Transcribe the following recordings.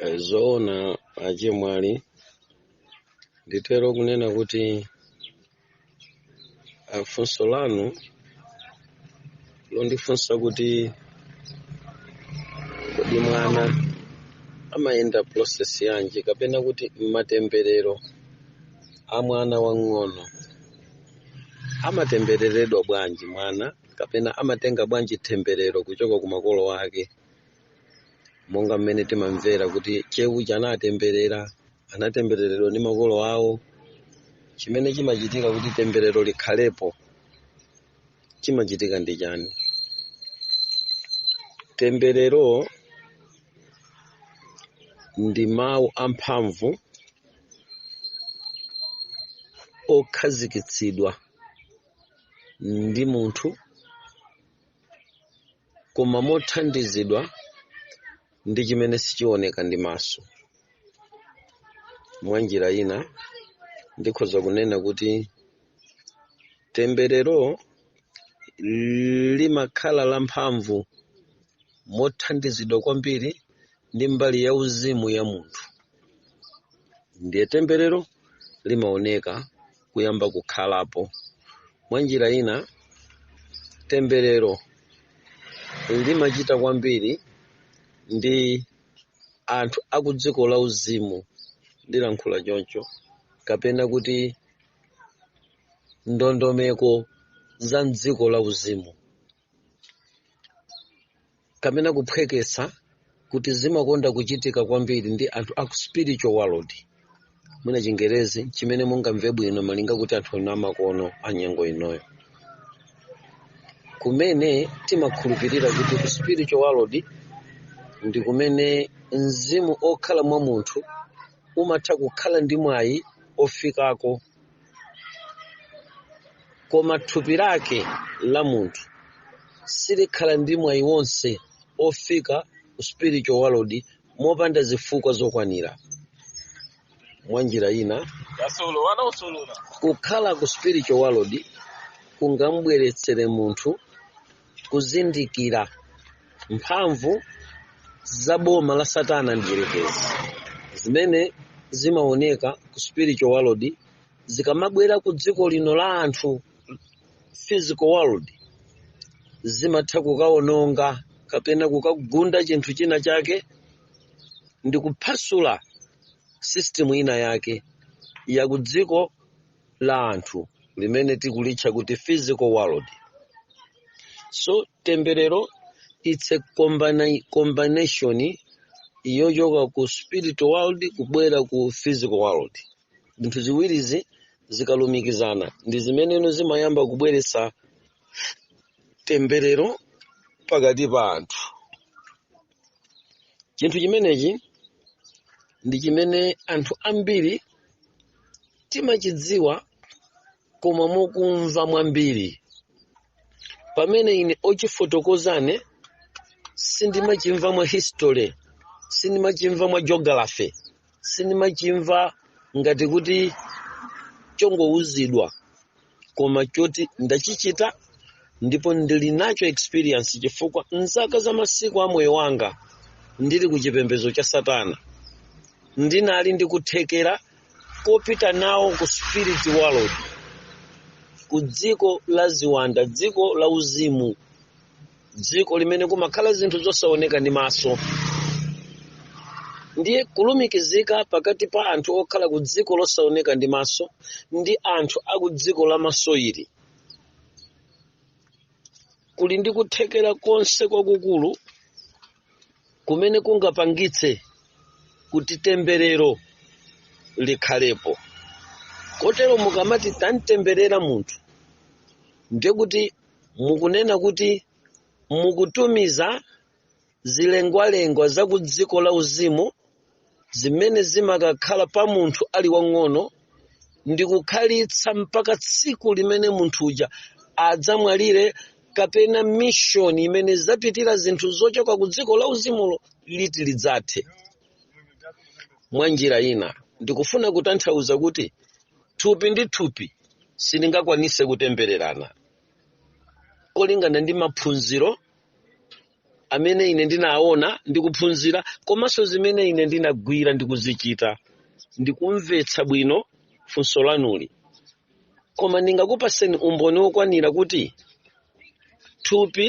Eh, zoona achemwali nditha kunena kuti ah, funso lanu londifunsa kuti kodi mwana amayenda process yanji kapena kuti matemberero a mwana wang'ono amatembereredwa bwanji mwana kapena amatenga bwanji temberero kuchoka ku makolo ake monga mmene timamvera kuti che uja anatemberera anatembereredwa ndi makolo awo chimene chimachitika kuti temberero likhalepo chimachitika ndi chani temberero ndi mawu amphamvu okhazikitsidwa ndi munthu koma mothandizidwa ndi chimene sichioneka ndi maso. Mwa njira ina, ndikhoza kunena kuti temberero limakhala lamphamvu mothandizidwa kwambiri ndi mbali yauzimu ya munthu. Ndiye temberero limaoneka kuyamba kukhalapo mwa njira ina temberero limachita kwambiri ndi anthu akudziko lauzimu ndilankhule choncho kapena kuti ndondomeko za mdziko lauzimu kapena kuphweketsa kuti zimakonda kuchitika kwambiri ndi anthu aku spiritual world mwina chingerezi chimene mungamve bwino malinga kuti anthu ena amakono a nyengo inoyo kumene timakhulupirira kuti ku spiritual world ndi kumene mzimu okhala mwa munthu umatha kukhala ndi mwayi ofikako koma thupi lake la munthu silikhala ndi mwayi wonse ofika ku spiritual world mopanda zifukwa zokwanira mwa njira ina kukhala ku spiritual world kungamubweretsere munthu kuzindikira mphamvu za boma la satana mdierekezi zimene zimaoneka ku spiritual world zikamabwera ku dziko lino la anthu physical world zimatha kukawononga kapena kukagunda chinthu china chake ndi kuphasula system ina yake ya ku dziko la anthu limene tikulitcha kuti physical world so temberero it's a combination yochoka ku spiritual world kubwera ku physical world zinthu ziwirizi zikalumikizana ndi zimene no zimayamba kubweretsa temberero pakati pa anthu chinthu chimenechi ndi chimene anthu ambiri timachidziwa koma mokumva mwambiri pamene ine wochifotokozane sindimachimva mwa history sindimachimva mwa geography sindimachimva ngati kuti chongouzidwa koma choti ndachichita ndipo ndili nacho experience chifukwa mzaka za masiku a moyo wanga ndili ku chipembedzo cha satana ndinali ndi kuthekera kopita nawo ku spirit world ku dziko la ziwanda dziko la uzimu dziko limene kumakhala zinthu zosaoneka ndi maso ndiye kulumikizika pakati pa anthu okhala ku dziko losaoneka ndi maso ndi anthu a ku dziko la maso ili kuli ndi kuthekera konse kwakukulu kumene kungapangitse kuti temberero likhalepo kotero mukamati tamutemberera munthu ndiye kuti mukunena kuti mukutumiza zilengwalengwa za ku dziko la uzimu zimene zimakakhala pa munthu ali wamng'ono ndi kukhalitsa mpaka tsiku limene munthu uja adzamwalire kapena mishoni imene zapitira zinthu zochoka ku dziko la uzimulo liti lidzathe mwa njira ina ndikufuna kutanthauza kuti thupi ndi thupi silingakwanise kutembererana kolingana ndi maphunziro amene ine ndinaona ndi kuphunzira komanso zimene ine ndinagwira ndi kuzichita ndikumvetsa bwino funso lanuli koma ndingakupaseni umboni wokwanira kuti thupi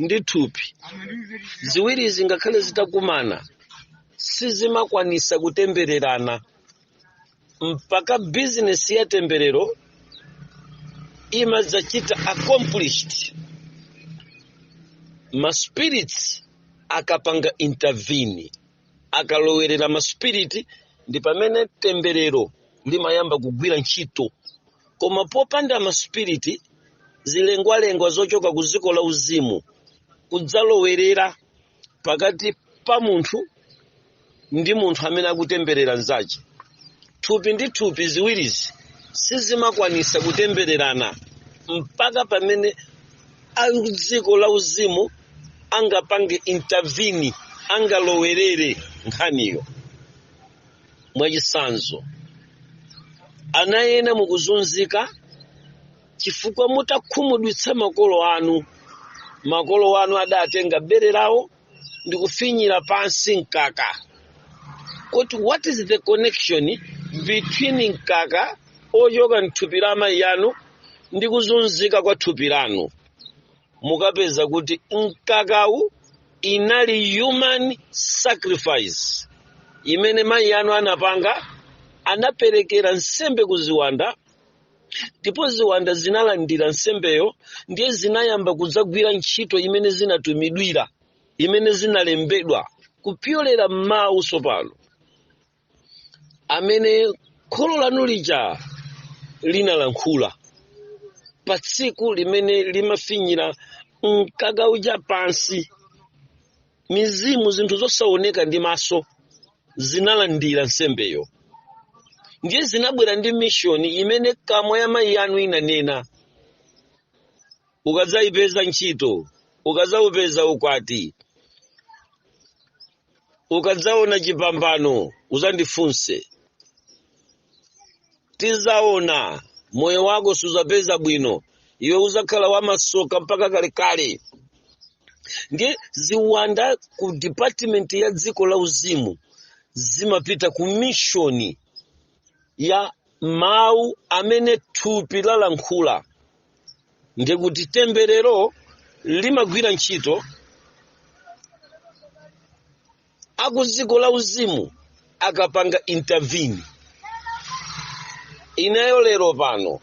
ndi thupi ziwirizi ngakhale zitakumana sizimakwanisa kutembererana mpaka bizinesi ya temberero imadzachita accomplished maspirits akapanga intervene akalowerera maspiriti ndi pamene temberero limayamba kugwira ntchito koma popanda maspiriti zilengwalengwa zochoka ku dziko la uzimu kudzalowerera pakati pa munthu ndi munthu amene akutemberera mzace thupi ndi thupi ziwirizi sizimakwanisa kutembererana mpaka pamene a dziko la uzimu angapange intervene angalowerere nkhaniyo mwachitsanzo ana ena mukuzunzika chifukwa mudakhumudwitsa makolo anu makolo anu adatenga bere lawo ndi kufinyira pansi mkaka kuti what is the connection between mkaka ochoka mthupi la amayi anu ndi kuzunzika kwa thupi lanu mukapeza kuti mkakawu inali human sacrifice imene mayi anu anapanga anaperekera nsembe ku ziwanda ndipo ziwanda zinalandira nsembeyo ndiye zinayamba kudzagwira ntchito imene zinatumidwira imene zinalembedwa kupyolera m'mawu tsopano amene kholo lanu lija linalankhula pa tsiku limene limafinyira mkaka uja pansi mizimu zinthu zosaoneka ndi maso zinalandira nsembeyo ndiye zinabwera ndi mishoni imene kamwa ya mayi anu inanena ukadzayipeza ntchito ukadzaupeza ukwati ukadzaona chipambano uzandifunse tizaona moyo wako suzapeza bwino iwe uzakhala wamasoka mpaka kalekale ndiye ziwanda ku department ya dziko la uzimu zimapita ku mishoni ya mawu amene thupi lalankhula ndiye kuti temberero limagwira ntchito a kudziko la uzimu akapanga intervene ineyo lero pano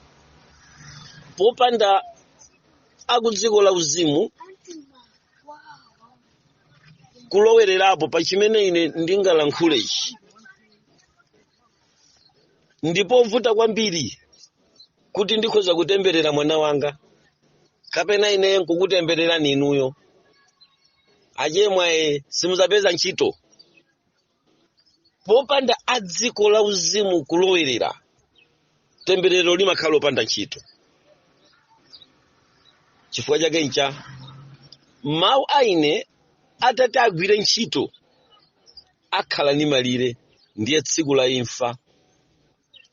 popanda a kudziko la uzimu kulowererapo pa chimene ine ndingalankhulechi ndi povuta kwambiri kuti ndikhoza kutemberera mwana wanga kapena ine nkukutembererani inuyo achemwaye simuzapeza ntchito popanda a dziko la uzimu kulowerera temberero limakhala lopanda ntchito chifukwa chake ncha mawu a ine atati agwire ntchito akhala ndi malire ndiye tsiku la imfa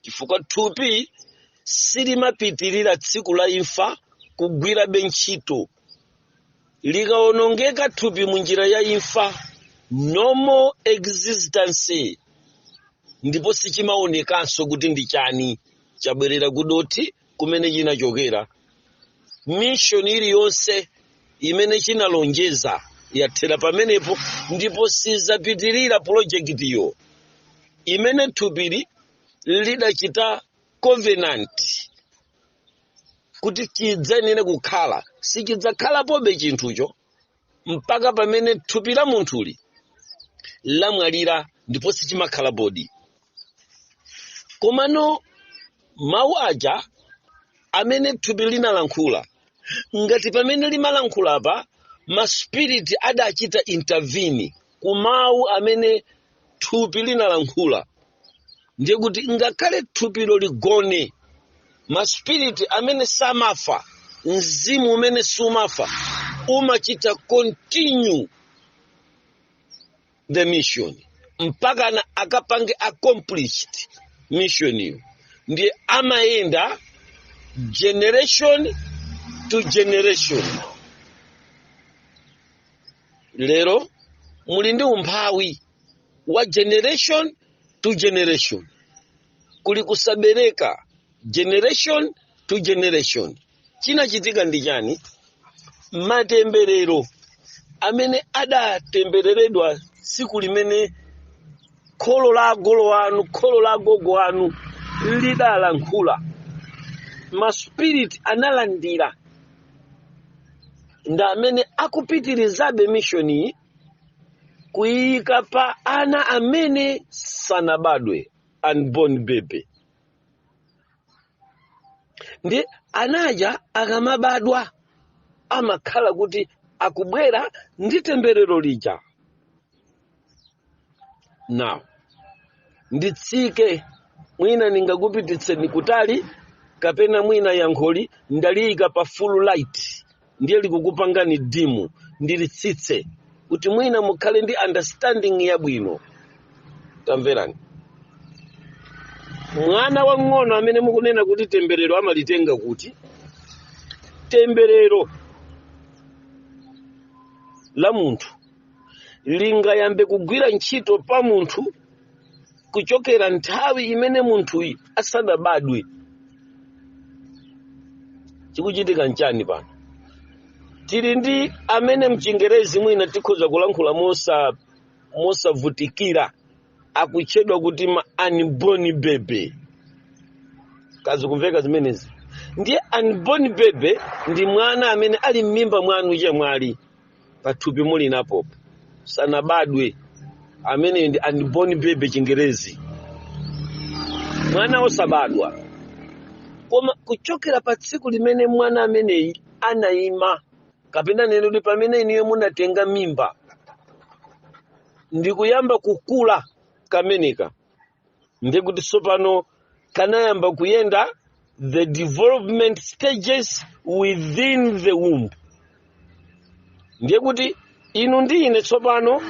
chifukwa thupi silimapitirira tsiku la imfa kugwirabe ntchito likawonongeka thupi mu njira ya imfa normal existence ndipo sichimaonekanso kuti ndi chani chabwerera kudothi kumene chinachokera mishoni iliyonse imene chinalonjeza yathera pamenepo ndipo sizapitirira pulojekitiyo imene thupili lidachita covenant kuti chidzayenere kukhala sichidzakhalapobe chinthucho mpaka pamene thupi la munthuli lamwalira liponso silimakhala bodi komano mawu aja amene thupi linalankhula ngati pamene limalankhula apa maspiriti adachita intervene ku mawu amene thupi linalankhula ndiye kuti ngakhale thupilo ligone maspiriti amene samafa mzimu umene sumafa umachita continue the mission mpakana akapange accomplish missioniyo ndiye amayenda generation to generation lero muli ndi umphawi wa generation to generation kuli kusabereka generation to generation chinachitika ndi chani matemberero amene adatembereredwa tsiku limene kholo la agogo anu kholo la agogo anu lidalankhula maspiriti analandira ndi amene akupitirizabe mishoniyi kuyika pa ana amene sanabadwe unborn baby ndi anaja akamabadwa amakhala kuti akubwera ndi temberero lija now nditsike mwina ndingakupititseni kutali kapena mwina yankholi ndaliyika pa full light ndiye likukupangani dimu ndilitsitse kuti mwina mukhale ndi understanding yabwino tamverani mwana wang'ono amene mukunena kuti temberero amalitenga kuti temberero la munthu lingayambe kugwira ntchito pa munthu kuchokera nthawi imene munthuyi asanabadwe chikuchitika nchani pano tili ndi amene mchingerezi mwina tikhoza kulankhula mosa mosavutikira akutchedwa kuti ma unborn baby kazikumveka zimenezi ndiye unborn baby ndi mwana amene ali m'mimba mwanu chemwali pathupi mulinapo sanabadwe ameneyi ndi unborn baby chingerezi mwana osabadwa koma kuchokera pa tsiku limene mwana ameneyi anayima kapena nenedwe pamene inuyo munatenga mimba ndikuyamba kukula kameneka ndiye kuti tsopano kanayamba kuyenda the development stages within the womb ndiye kuti inu ndi ine tsopano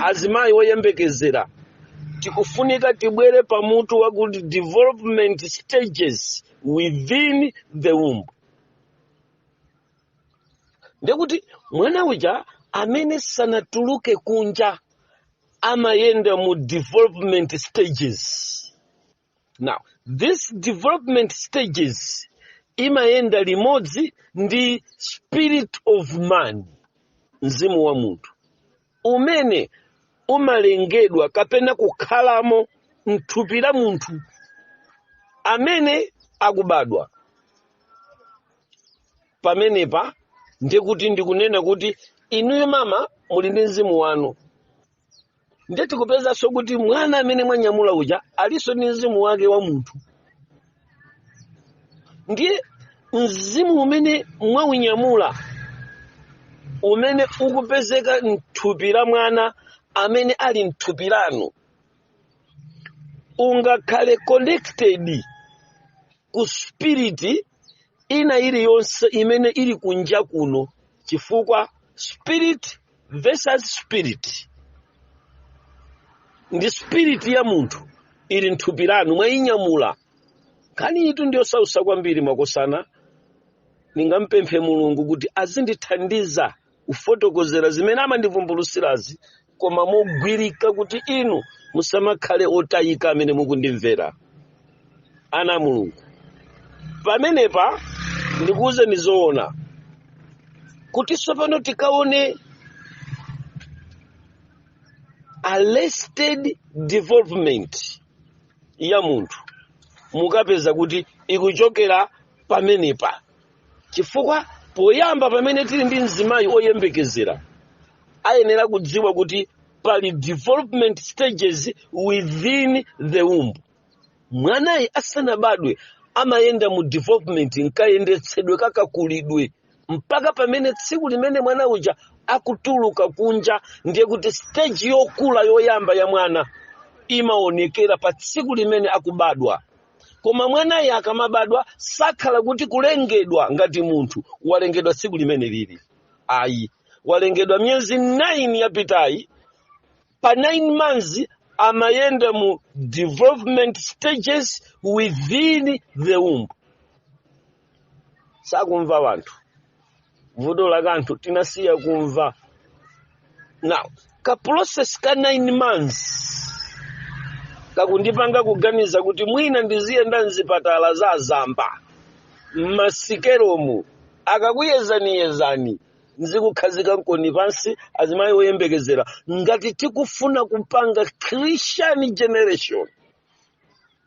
azimayi oyembekezera tikufunika tibwere pa mutu wakuti development stages within the womb ndiye kuti mwana uja amene sanatuluke kunja amayenda mu development stages now this development stages imayenda limodzi ndi spirit of man mzimu wa munthu umene umalengedwa kapena kukhalamo mthupi la munthu amene akubadwa pamenepa ndiye kuti ndikunena kuti inuyo mama muli ndi mzimu wanu ndiye tikupezanso kuti mwana amene mwanyamula uja alinso ndi mzimu wake wa munthu ndiye mzimu umene mwaunyamula umene ukupezeka mthupi la mwana amene ali mthupi lanu ungakhale connected ku spiriti ina iliyonse imene ili kunja kuno chifukwa spirit versus spirit ndi spirit ya munthu ili mthupi lanu mwayinyamula nkhaniyitu ndiyosausa kwambiri makosana ndingampemphe mulungu kuti azindithandiza kufotokozera zimene amandivumbulutsirazi koma mogwirika kuti inu musamakhale otayika amene mukundimvera ana a mulungu pamenepa ndikuwuzeni zoona kuti tsopano tikaone arrested development ya munthu mukapeza kuti ikuchokera pamenepa chifukwa poyamba pamene tili ndi mzimayi oyembekezera ayenera kudziwa kuti pali development stages within the womb mwanayu asanabadwe amayenda mu development m'kayendetsedwe kakakulidwe mpaka pamene tsiku limene mwana uja akutuluka kunja ndiye kuti stage yokula yoyamba ya mwana imaonekera pa tsiku limene akubadwa koma mwanayo akamabadwa sakhala kuti kulengedwa ngati munthu walengedwa tsiku limeneli ayi walengedwa miyezi 9 yapitayi pa 9 months amayenda mu development stages within the womb sakumva wanthu vuto la kanthu tinasiya kumva now ka process ka 9 months kakundipanga kuganiza kuti mwina ndiziyenda mzipatala za zamba m'masikelomu akakuyezaniyezani n'zikukukhazikani pansi azimayi oyembekezera ngati tikufuna kupanga christian generation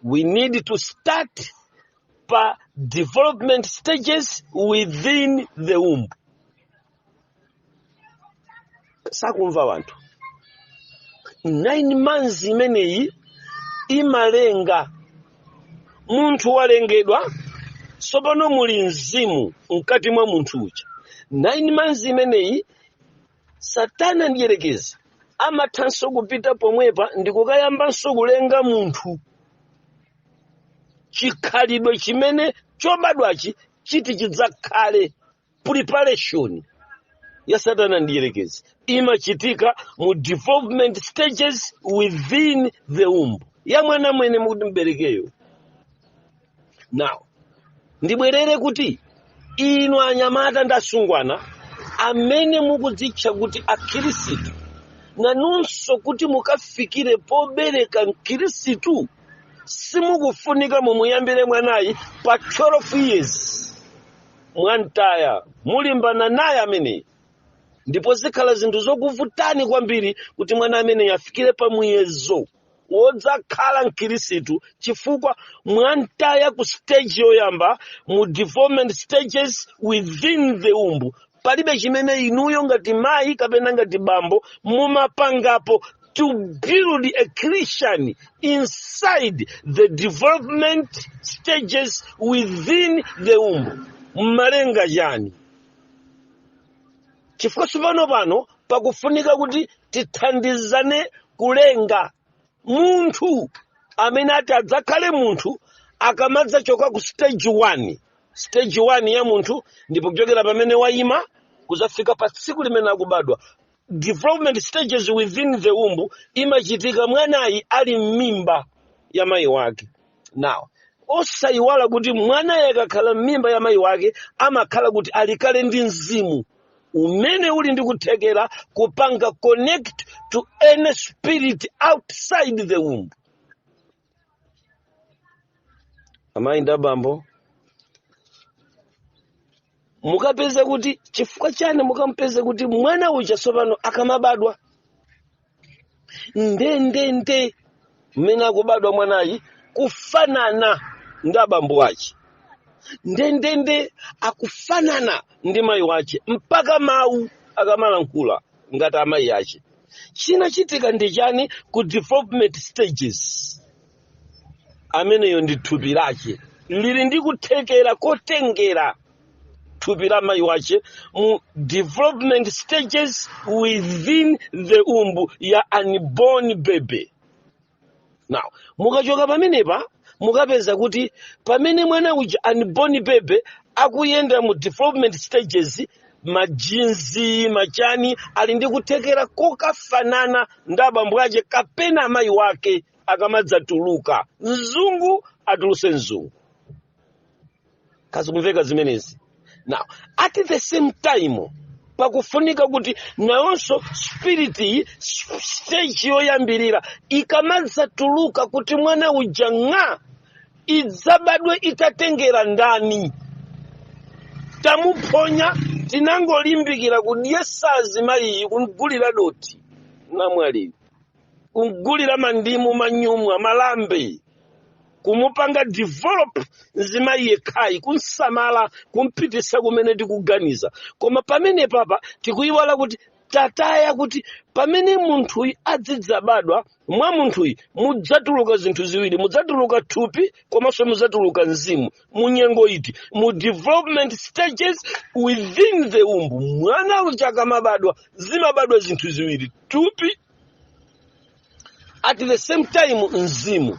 we need to start pa development stages within the womb sakumva wanthu 9 months imeneyi imalenga munthu walengedwa tsopano muli mzimu mkati mwa munthu uja 9 months imeneyi satana mdyerekezi amathanso kupita pomwepa ndikukayambanso kulenga munthu chikhalidwe chimene chobadwachi chiti chidzakhale preparation ya satana mdyerekezi imachitika mu development stages within the womb ya mwana amene mukuti mubereke yo now ndibwerere kuti inu anyamata ndi asungwana amene mukudzitcha kuti akhirisitu nanunso kuti mukafikire pobereka mkhirisitu simukufunika mumuyambire mwanayu pa 12 years mwamtaya mulimbana naye ameneyi ndipo zikhala zinthu zokuvutani kwambiri kuti mwana ameneyi afikire pa muyezo wodzakhala mkhirisitu chifukwa mwamtaya ku stage yoyamba mu development stages within the womb palibe chimene inuyo ngati mayi kapena ngati bambo mumapangapo to build a christian inside the development stages within the womb mumalenga chani chifukwa tsopano pano pakufunika kuti tithandizane kulenga munthu amene ati adzakhale munthu akamadzachoka ku stage 1 stage 1 ya munthu ndi pochokera pamene wayima kuzafika pa tsiku limene akubadwa development stages within the womb imachitika mwanayi ali m'mimba ya mayi wake nawo osayiwala kuti mwanayu akakhala m'mimba ya mayi wake amakhala kuti ali kale ndi mzimu umene uli ndi kuthekera kupanga connect to any spirit outside the womb amayi ndi abambo mukapeza kuti chifukwa chani mukamupeza kuti mwana uja tsopano akamabadwa ndendende mmene akubadwa mwanayi kufanana ndi abambo wace ndendende akufanana ndi mayi wace mpaka mawu akamalankhula ngati amayi ace chinachitika ndi chani ku development stages ameneyo ndi thupi lace lili ndi kuthekera kotengera thupi la mayi wace mu development stages within the womb ya unborn baby now mukachoka pamenepa mukapeza kuti pamene mwana uja unborn baby akuyenda mu development stages majinzi machani ali ndi kuthekera kokafanana ndi abambo ace kapena amayi wake akamadzatuluka mzungu atuluse mzungu kazikumveka zimenezi now at the same time pakufunika kuti nayonso spirit iyi s- stage yoyambirira ikamadzatuluka kuti mwana uja ng'a idzabadwe itatengera ndani tamuphonya tinangolimbikira kudyesa mzimayiyi kumgulira doti namwalira kumgulira mandimu manyumwa malambe kumupanga develop mzimayi yekhayi kumsamala kumpitisa kumene tikuganiza koma pamenepapa tikuyiwala kuti tataya kuti pamene munthuyi adzidzabadwa mwa munthuyi mudzatuluka zinthu ziwiri mudzatuluka thupi komanso mudzatuluka mzimu mu nyengo iti mu development stages within the womb mwana uja akamabadwa zimabadwa zinthu ziwiri thupi at the same time mzimu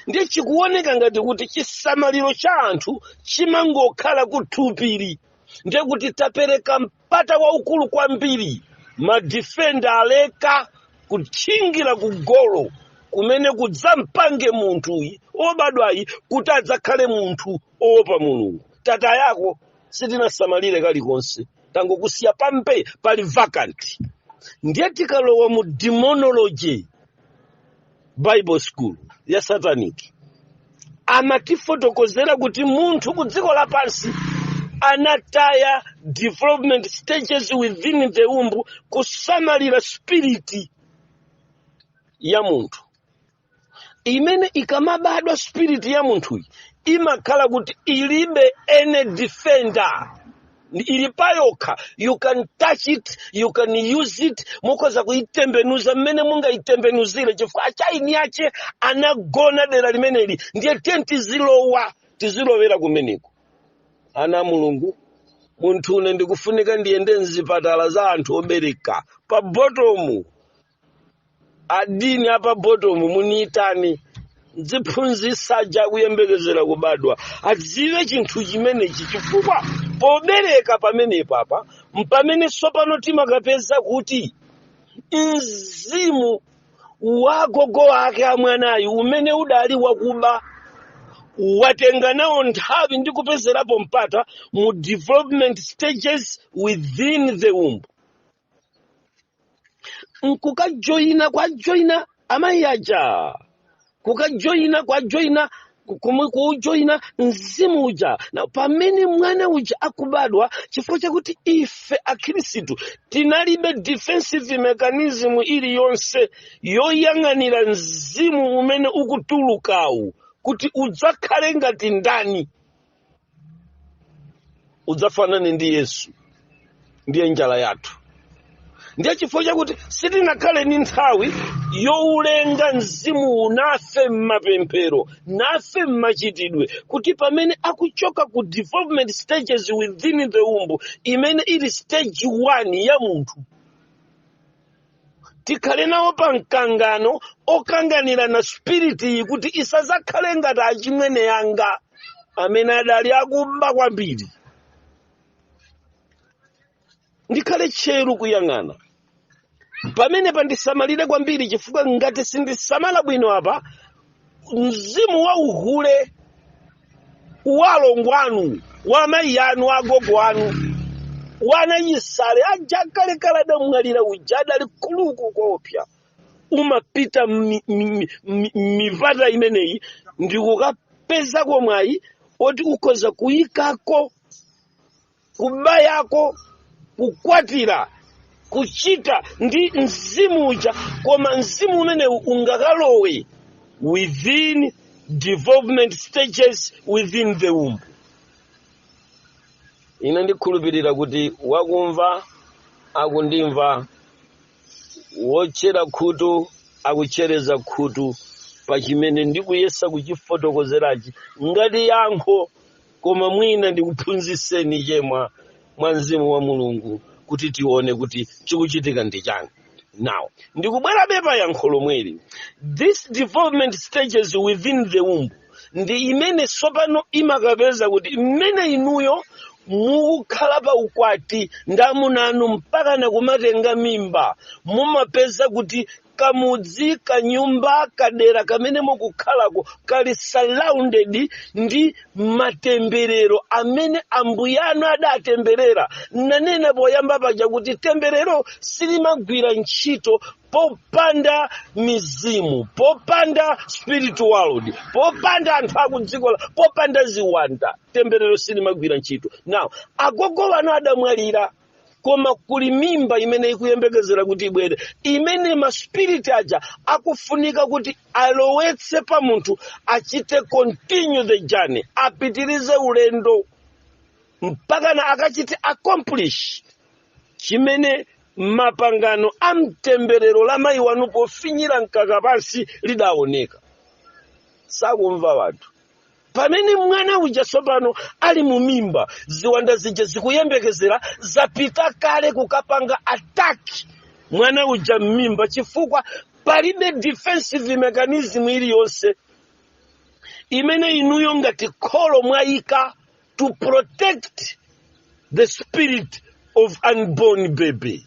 ndiye chikuoneka ngati kuti chisamaliro cha anthu chimangokhala kuthupili ndiye kuti tapereka mpata waukulu kwambiri madifenda aleka kutchingira ku golo kumene kudzampange munthuyi obadwayi kuti adzakhale munthu owopa mulungu tataya uko sitinasamalire kalikonse tangokusiya pambee pali vacant ndiye tikalowa mu demonology bible school ya satanic amatifotokozera kuti munthu ku dziko lapansi anataya development stages within the womb kusamalira spiriti ya munthu imene ikamabadwa spirit ya munthuyi imakhala kuti ilibe any defender ili payokha you can touch it you can use it mukhoza kuyitembenuza mmene mungayitembenuzire chifukwa eni ache anagona dera limeneli ndiye tiyeni tizilowa tizilowera kumeneko ana a mulungu munthune ndikufunika ndiyende mzipatala za anthu obereka pa botomu adini apa botomu muniyitani ndiziphunzitsa aja akuyembekezera kubadwa adziwe chinthu chimenechi chifukwa pobereka pamenepapa mpamene tsopano timakapeza kuti mzimu wa gogo wake wa mwanayu umene udali wakuba watenga nawo nthawi ndikupezerapo mpata mu development stages within the womb nkukajoyina kwajoyina amayi aja kukajoyina kwajoyina ku- kumwe kuujoyina mzimu uja na pamene mwana uja akubadwa chifukwa chakuti ife akhristu tinalibe defensive mechanism iliyonse yoyang'anira mzimu umene ukutulukawu kuti udzakhale ngati ndani udzafanane ndi yesu ndiye njala yathu ndiye chifukwa chakuti sitinakhale ndi nthawi youlenga mzimuwu nafe m'mapemphero nafe m'machitidwe kuti pamene akuchoka ku development stages within the womb imene ili stage 1 ya munthu tikhale nawo pa mkangano okanganirana spiritiyi kuti isazakhale ngati achimwene yanga amene adali akuba kwambiri ndikhale tcheru kuyang'ana pamenepa ndisamalire kwambiri chifukwa ngati sindisamala bwino apa mzimu wa uhule wa alongo anu wa amayi anu wa agogo anu wa anachisale aja kalekale adamwalira uja adali kuluku koopsa umapita mi- mi- mi- mi- mipata imeneyi ndikukapezako mwayi oti ukhoza kuyikako kuba yako kukwatira kuchita ndi mzimu uja koma mzimu umenewu ungakalowe within development stages within the womb ine ndikhulupirira kuti wakumva akundimva wotchera khutu akuchereza khutu pa chimene ndikuyesa kuchifotokozerachi ngati yankho koma mwina ndikuphunzitseni chema mwa mzimu wa mulungu kuti tione kuti chikuchitika ndi chani now ndikubwerabe pa yankho lomweli this development stages within the womb ndi imene tsopano imakapeza kuti mmene inuyo mukukhala pa ukwati ndi amuna anu mpaka nakumatenga mimba mumapeza kuti kamudzi kanyumba kadera kamene mukukhalako kali surrounded ndi matemberero amene ambuye anu adatemberera nanena poyamba paja kuti temberero silimagwira ntchito popanda mizimu popanda spirit world popanda anthu akudziko la- popanda ziwanda temberero silimagwira ntchito now agogo wanu adamwalira koma kuli mimba imene ikuyembekezera kuti ibwere imene maspiriti aja akufunika kuti alowetse pa munthu achite continue the journey apitirize ulendo mpakana akachite accomplish chimene mapangano a mtemberero la mayi wanu pofinyira mkaka pansi lidaoneka sakumva wanthu pamene mwana uja tsopano ali mu mimba ziwanda zija zikuyembekezera zapita kale kukapanga ataki mwana uja m'mimba chifukwa palibe defensive mechanism iliyonse imene inuyo ngati kholo mwayika to protect the spirit of unborn baby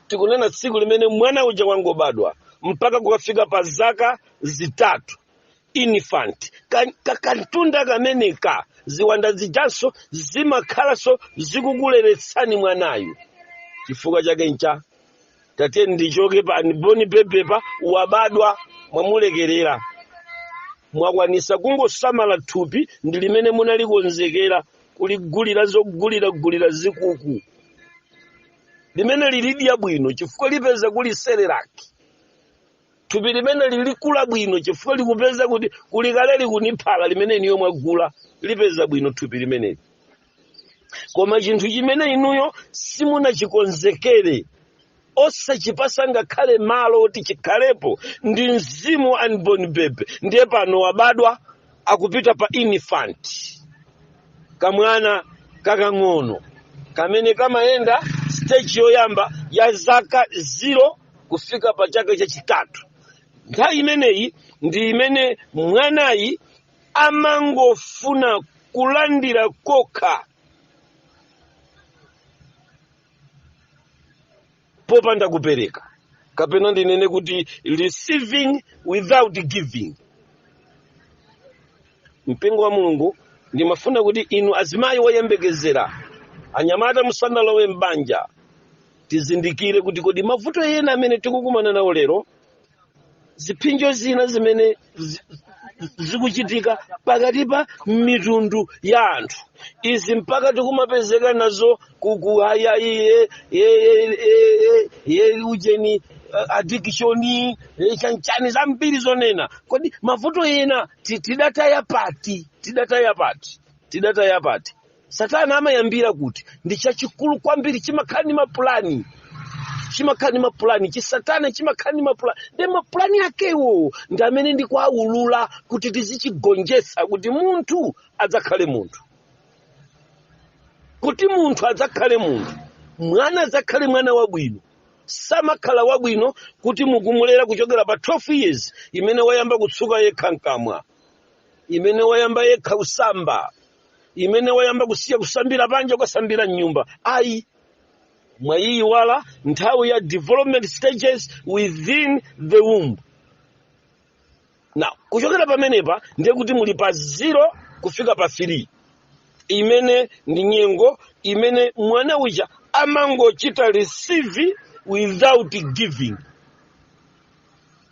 tikunena tsiku limene mwana uja wangobadwa mpaka kukafika pa zaka zitatu infant Ka- ka- kantunda kameneka ziwanda zijanso zimakhalanso zikukuleretsani mwanayu chifukwa chake ncha tate ndichoke pa unborn baby pa wabadwa mwamulekerera mwakwanisa kungosamala thupi ndi limene munalikonzekera kuligulira zoguliragulira zikuku limene lilidya bwino chifukwa lipeza kuli serelaki thupi limene lilikula bwino chifukwa likupeza kuti kuli kale likuni phala limene inuyo mwagula lipeza bwino thupi limeneli koma chinthu chimene inuyo simunachikonzekere osachipasa ngakhale malo oti chikhalepo ndi mzimu wa unborn baby ndiye pano wabadwa akupita pa infant kamwana kakang'ono kamene kamayenda stage yoyamba ya zaka 0 kufika pa chaka chachitatu nthawi imeneyi ndi imene mwanayi amangofuna kulandira kokha popanda kupereka kapena ndinene kuti receiving without giving mpingo wa mulungu ndimafuna kuti inu azimayi woyembekezera anyamata musanalowe m'banja tizindikire kuti kodi mavuto ena amene tikukumana nawo lero zipsinjo zina zimene zi- zikuchitika pakati pa mitundu ya anthu izi mpaka tikumapezeka nazo ku ujeni eh, addiction eh, chanichani zambiri zonena kodi mavuto ena ti- tidataya pati tidataya pati tidataya pati satana amayambira kuti ndi chachikulu kwambiri chimakhala ndi mapulani chimakhala ndi mapulani chisatana chimakhala ndi mapulani ndi mapulani akewo ndi amene ndikuawulula kuti tizichigonjetsa kuti munthu adzakhale munthu kuti munthu adzakhale munthu mwana adzakhale mwana wabwino samakhala wabwino kuti mukumulera kuchokera pa 12 years imene wayamba kutsuka yekha mkamwa imene wayamba yekha kusamba imene wayamba kusiya kusambira panja kukasambira mnyumba ayi mwayiyiwala nthawi ya development stages within the womb now kuchokera pamenepa ndiye kuti muli pa zero kufika pa 3 imene ndi nyengo imene mwana uja amangochita receive without giving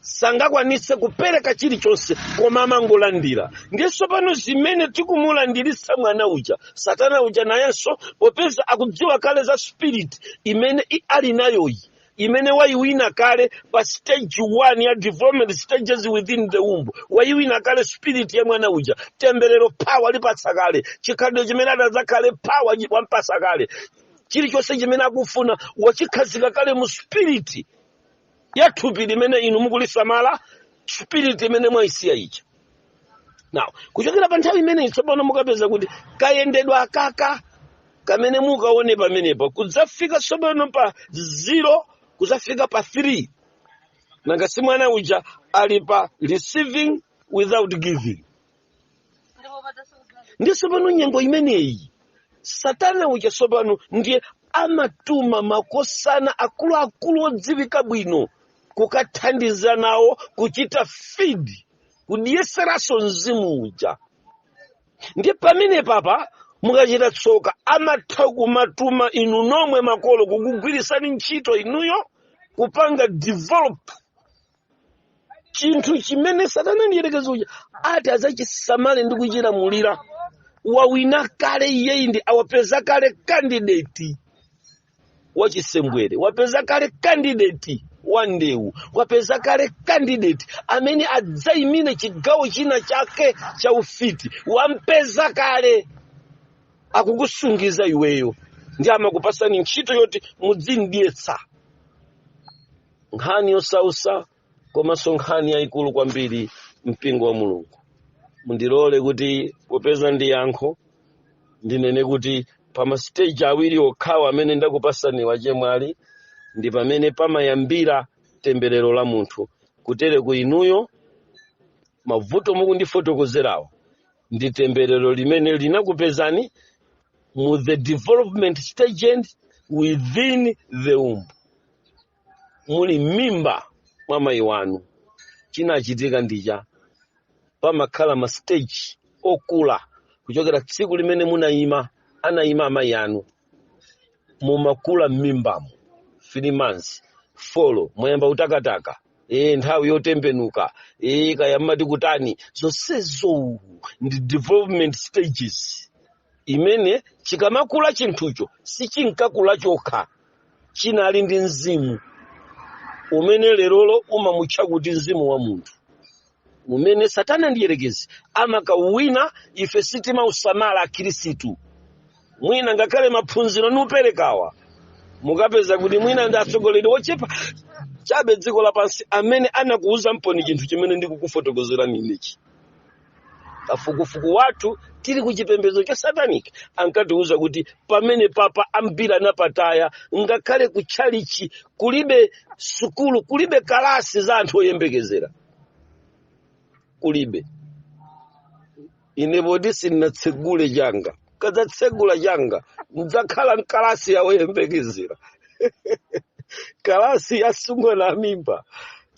sangakwanise kupereka chilichonse koma amangolandira ndiye tsopano zimene tikumulandiritsa mwana uja satana uja nayenso popeza akudziwa kale za spirit imene i- ali nayoyi imene wayiwina kale pa stage 1 ya development stages within the womb wayiwina kale spirit ya mwana uja temberero pawalipatsa kale chikhalidwe chimene adzakhale pawampatsa kale chilichonse chimene akufuna wachikhazika kale mu spirit ya thupi limene inu mukulisamala spirit imene mwaisiya ija now kuchokera pa nthawi imeneyi tsopano mukapeza kuti kayendedwe kaka kamene mukaone pamenepa kudzafika tsopano pa zero kudzafika pa three nanga si mwana uja ali pa receiving without giving ndiye tsopano nyengo imeneyi satana uja tsopano ndiye amatuma makosana akuluakulu odziwika bwino kukathandiza nawo kuchita fidi kudyeseranso mzimu uja ndiye pamene papa mukachita tsoka amatha kumatuma inu nomwe makolo kukugwirisani ntchito inuyo kupanga develop chinthu chimene satana mdyerekezi uja ati adzachisamale ndi kuchilamulira wauwina kale iyeyi ndiye wapeza kale kandideti wachisembwere wapeza kale kandideti wa ndewu wapeza kale kandideti amene adzayimire chigawo china chake cha ufiti wampeza kale akukusungiza iweyo ndiye amakupasani ntchito yoti mudzimdyetsa nkhani yosausa komanso nkhani yayikulu kwambiri mpingo wa mulungu mundilole kuti popeza ndi yankho ndinene kuti pa masiteji awiri okhawa amene ndakupasani achemwali ndi pamene pamayambira temberero la munthu kutere kuti inuyo mavuto mukundifotokozerawo ndi temberero limene linakupezani mu the development stage and within the womb muli m'mimba mwa mayi wanu chinachitika ndichani pamakhala ma stage okula kuchokera tsiku limene munayima anayima amayi anu mumakula m'mimbamo three months folo mwayamba kutakataka e, nthawi yotembenuka e, kaya mmati kutani zonsezo ndi development stages imene chikamakula chinthucho sichinkakula chokha chinali ndi mzimu umene lerolo umamutcha kuti mzimu wa munthu umene satana mdyerekezi amakauwina ife sitimausamala akhristu mwina ngakhale maphunziro ndikuperekawa mukapeza kuti mwina ndi atsogoleri ochepa chabe padziko lapansi amene anakuuzamponi chinthu chimene ndikukufotokozerani inechi kafukufuku wathu tili ku chipembedzo cha satanic ankatiuza kuti pamene papa ambiri anapataya ngakhale ku tchalichi kulibe sukulu kulibe kalasi za anthu oyembekezera kulibe ine poti sindinatsegule changa nkadzatsegula changa ndidzakhala nkalasi ya oyembekezera kalasi ya atsikana a mimba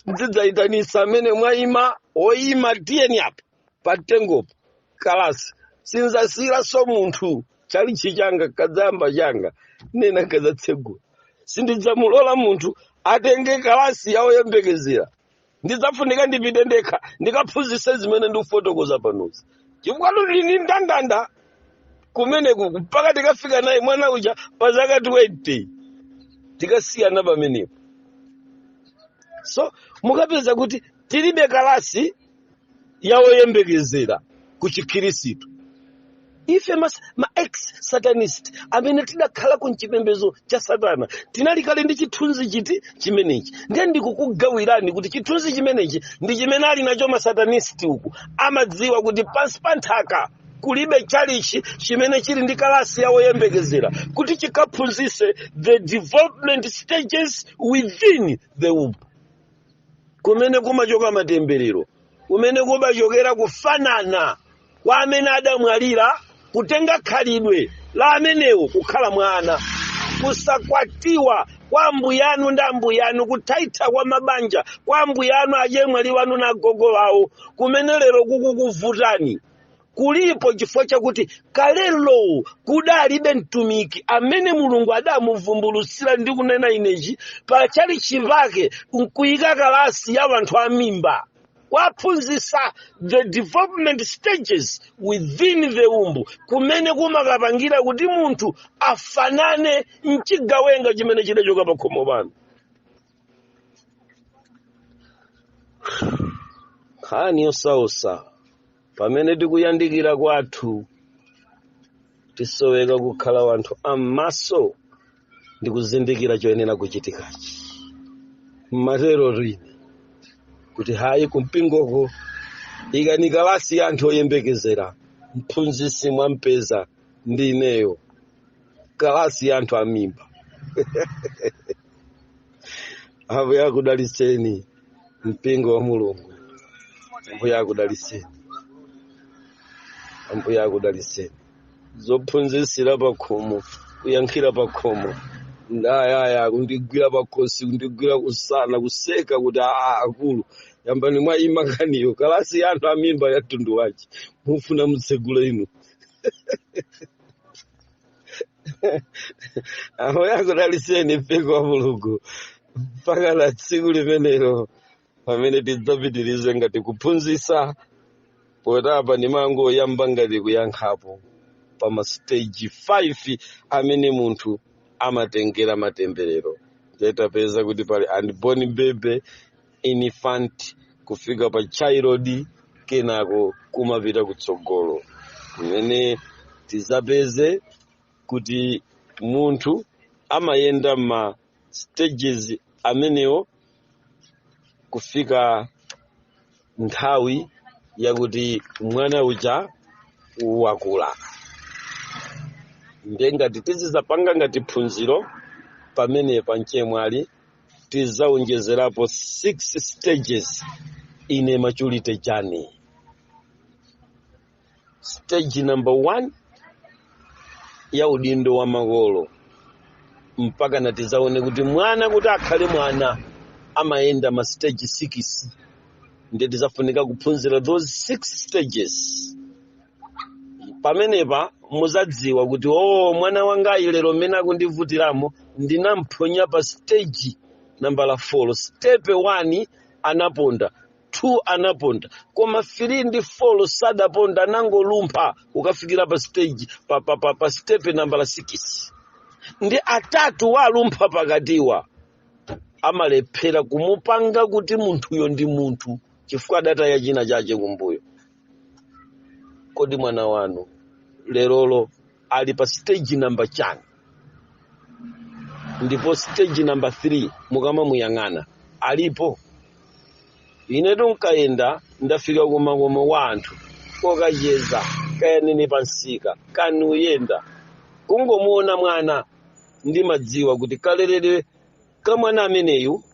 ndidzayitanisa amene mwayima oyima tiyeni apa pa mtengopa kalasi sindzasiyiranso munthu tchalichi changa nkadzayamba changa ndinene nkadzatsegula sindidzamulola munthu atenge kalasi ya oyembekezera ndidzafunika ndipite ndekha ndikaphunzitse zimene ndikufotokoza panozi chifukwa tuli ndi ndandanda kumeneku mpaka tikafika naye mwana uja pa zaka 20 tikasiyana pamenepo so mukapeza kuti tilibe kalasi ya oyembekezera ku chikhirisitu ife ma, ma ex satanist amene tidakhala ku mchipembezo cha satana tinali kale ndi chithunzi chiti chimenechi ndiye ndikukugawirani kuti chithunzi chimenechi ndi chimene ali nacho masatanist uku amadziwa kuti pansi pa nthaka kulibe chalichi chimene chili ndi kalasi ya woyembekezera kuti chikaphunzise the development stages within the womb kumene kumachoka matemberero kumene kumachokera kufanana kwa amene adamwalira kutenga khalidwe la amenewo kukhala mwana kusakwatiwa kwa ambuyanu ndi ambuyanu kuthaitha kwa mabanja kwa ambuyanu achemwali wanu na agogo wawo kumene lero kukukuvutani kulipo chifukwa chakuti kalelo kudalibe mtumiki amene mulungu adamuvumbulutsira ndikunena inechi pa chalichi pake nkuyika kalasi ya wanthu a mimba kuwaphunzitsa the development stages within the womb kumene kumakapangira kuti munthu afanane nchigawenga chimene chidachoka pa khomo pano nkhani yosausa pamene tikuyandikira kwathu tisoweka kukhala wanthu a mmaso ndi kuzindikira choyenera kuchitikachi mmaterotu ine kuti hayi kumpingoko ikani kalasi ya anthu oyembekezera mphunzisi mwampeza ndi ineyo kalasi ya anthu amimba ambuye akudalitseni mpingo wa mulungu ambuye akudalitseni ambuye akudalitseni zophunzitsira pakhomo kuyankhira pakhomo ndayaya kundigwira pakhosi kundigwira kumsana kuseka kuti aa akulu yambani mwaima nkhaniyo kalasi ya anthu amimba ya mtundu wace mufuna mutsegule inu ambuye akudalitseni mpingo wa mulungu mpaka na tsiku limenelo pamene tidzapitirize ngati kuphunzitsa poti apa ndimangoyamba ngati kuyankhapo pa masiteji 5 amene munthu amatengera matemberero nde tapeza kuti pali unborn baby infant kufika pa child kenako kumapita kutsogolo kumene tizapeze kuti munthu amayenda ma stages amenewo kufika nthawi yakuti mwana uja wakula ndiye ngati tizizapanga ngati phunziro pamenepa mchemwali tizaonjezerapo 6 stages in a maturity journey stage number 1 ya udindo wa makolo mpakana tizaone kuti mwana kuti akhale mwana amayenda ma stage 6 ndiye tizafunika kuphunzira those 6 stages pamenepa muzadziwa kuti o mwana wangayi lero mmene akundivutiramo ndinamphonya pa stage nambala 4 stepe 1 anaponda 2 anaponda koma 3 ndi 4 sadaponda anangolumpha kukafikira pa stage pa, pa, pa, pa stepe nambala 6 ndi atatu walumpha pakatiwa amalephera kumupanga kuti munthuyo ndi munthu chifukwa adataya china chache kumbuyo kodi mwana wanu lerolo ali pa stage namba chani ndipo stage namba 3 mukamamuyang'ana alipo inetu nkamayenda ndafika kumakomo kwa anthu kokacheza kaya ndine pa msika kaya nkuyenda kungomuona mwana ndimadziwa kuti kaleredwe ka mwana ameneyu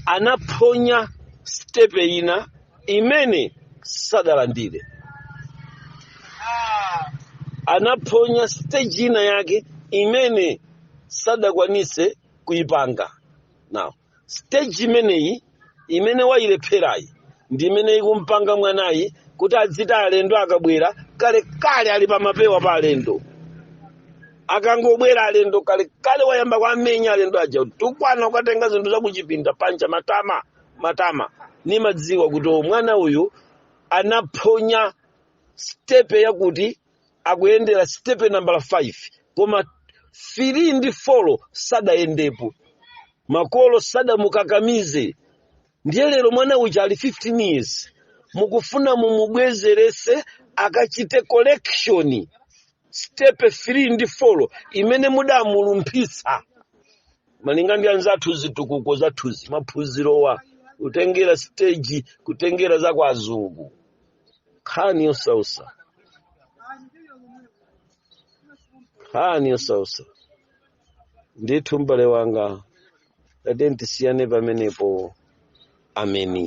anaphonya sitepe ina imene sadalandire anaphonya siteji ina yake imene sadakwanise kuyipanga now siteji imeneyi imene wayilepherayi ndi imene ikumpanga mwanayi kuti adziti alendo akabwera kalekale ali pamapewa pa alendo akangobwera alendo kalekale wayamba kuwamenya alendo aja kutukwana kukatenga zinthu zakuchipinda panja matama matama nimadziwa kuti o mwana uyu anaphonya stepe yakuti akuyendera sitepe nambala 5 koma 3 ndi 4 sadayendepo makolo sadamukakamize ndiye lero mwana uja ali 15 years mukufuna mumubwezerese akachite correction stepe 3 ndi 4 imene mudamulumphitsa malinga ndi anzathu zitukuko zathuzi maphunzirowa kutengera stage kutengera za kwa azungu nkhani yosausa nkhani yosausa ndithu mbale wanga tatiyeni tisiyane pamenepo ameni